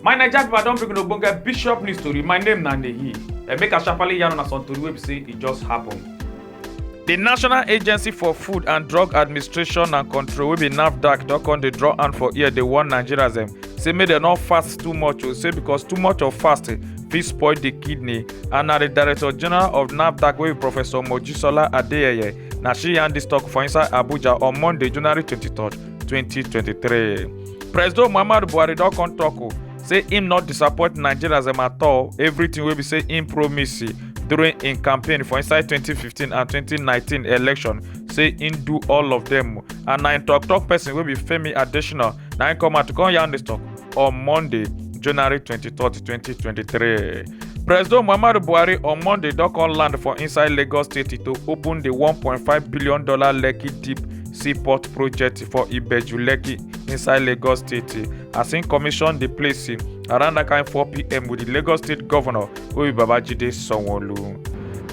my naija pipo i don bring una ogbonge bishop news tori my name na nehi and make i sharparly yarn una some tori wey be say e just happen. di national agency for food and drug administration and control wey be nafdac don come dey draw hand for ear dey warn nigerians dem say make dem no fast too much o say because too much of fasting fit spoil di kidney. and na di director general of nafdac wey be professor mojisola adeyeye na she yarn dis tok for inside abuja on monday january 23 2023 presido muhammadu buhari don come tok o say im not disappoint nigerians dem at all everything wey be say im promise during im campaign for inside 2015 and 2019 election say im do all of dem and na im tok tok person wey be femi adesina na im come out to come yarn dis tok on monday january 23 2023 president muhammadu buhari on monday don come land for inside lagos state to open di $1.5 billion lekki deep seaport project for ibeju lekki inside lagos state as im commission di place around dat kain 4pm wit di lagos state govnor obi babajide sanwo-olu.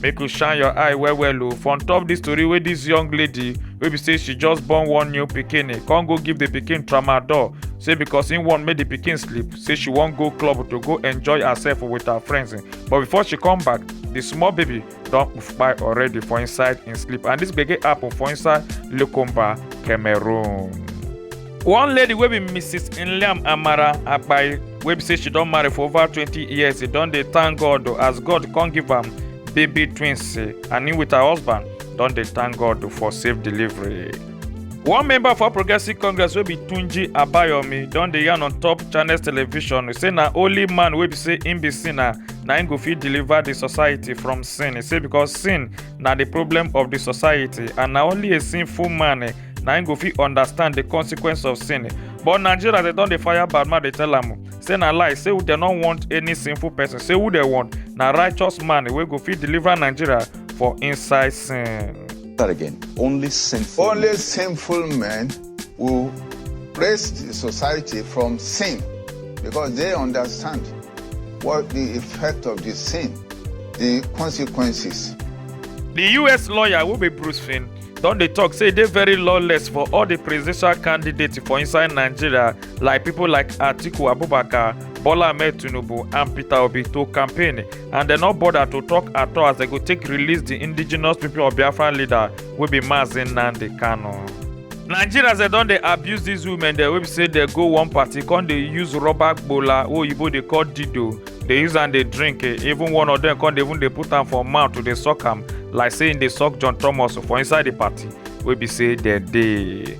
make you shine your eye well well o oh, for on top this story wey this young lady wey be say she just born one new pikin eh, come go give the pikin tramadol say because im wan make the pikin sleep say she wan go club to go enjoy herself with her friends eh. but before she come back the small baby don kpai already for inside im sleep and this gbege happen for inside lukumba cameroon. one lady wey be mrs nliam amara akpai wey be say she don marry for over twenty years e don dey thank god o, as god come give am baby twins eh, and im with her husband don dey thank god o for safe delivery. one member for progressive congress wey be tunji abayomi don dey yarn on top channels television say na only man wey be say im be sinner na im go fit deliver di society from sin e say because sin na di problem of di society and na only a sinful man eh, na im go fit understand the consequence of sin but nigeria dem don dey fire bad man dey tell am o say na lie say dem no want any sinful person say who dem want na righteous man wey go fit deliver nigeria for inside sin. that again. Only sinful. Only sinful men will raise the society from sin because they understand what the effect of the sin, the consequences. the us lawyer wey be bruce finn don dey tok say e dey very lawless for all di presidential candidates for inside nigeria like pipo like atiku abubakar bola ahmed tinubu and peter obi to campaign and dem no bother to tok at all as dem go take release di indigenous pipo of biafra leader wey be mazi nnamdi kanu. nigerians dem don dey abuse dis women dem wey be say dem go one party come dey use rubber gbola wey oyibo dey call dido dey use am dey drink eh, even one of dem come dey even dey put am for mouth to dey suck am like say im dey suck john thomas for inside di party wey be say dem dey.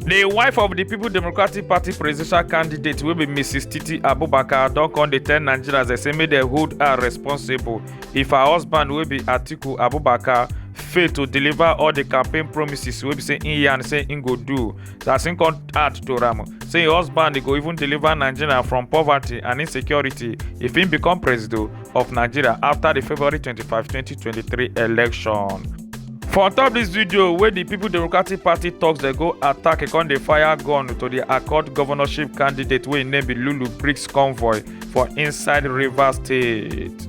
The wife of the People Democratic Party presidential candidate will be Mrs. Titi Abubakar don come dey tell Nigerians they say make dem hold her responsible if her husband will be Atiku Abubakar fail to deliver all the campaign promises wey be say im yarn say im go do as im come add to am say im husband dey go even deliver nigeria from poverty and insecurity if im become president of nigeria after the february 25 2023 election. for on top dis video wey di pipo democratic party toks dey go attack e con dey fire gun to di accord governorship candidate wey im name be lulu briggs convoy for inside rivers state.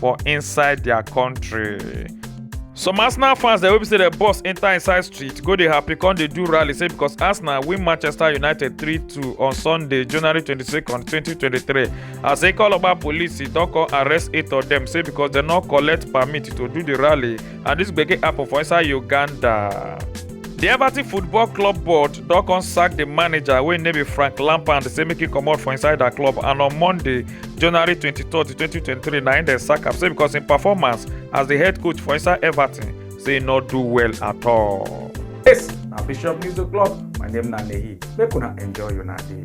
for inside their country. some arsenal fans dem wey be say dem boss enter inside street go dey happy come dey do rally say because arsenal win manchester united 3-2 on sunday january 22 2023 as ikoloba police don come arrest eight of dem say because dem no collect permit to do di rally and dis gbege happen for inside uganda. di everton football club board don come sack di manager wey name be frank lampard say make e comot for inside dia club and on monday january 23 2023 na im dem sack am say because im performance as di head coach for inside everton say e no do well at all. yes na bishop news o'clock my name na nehi make una enjoy una day.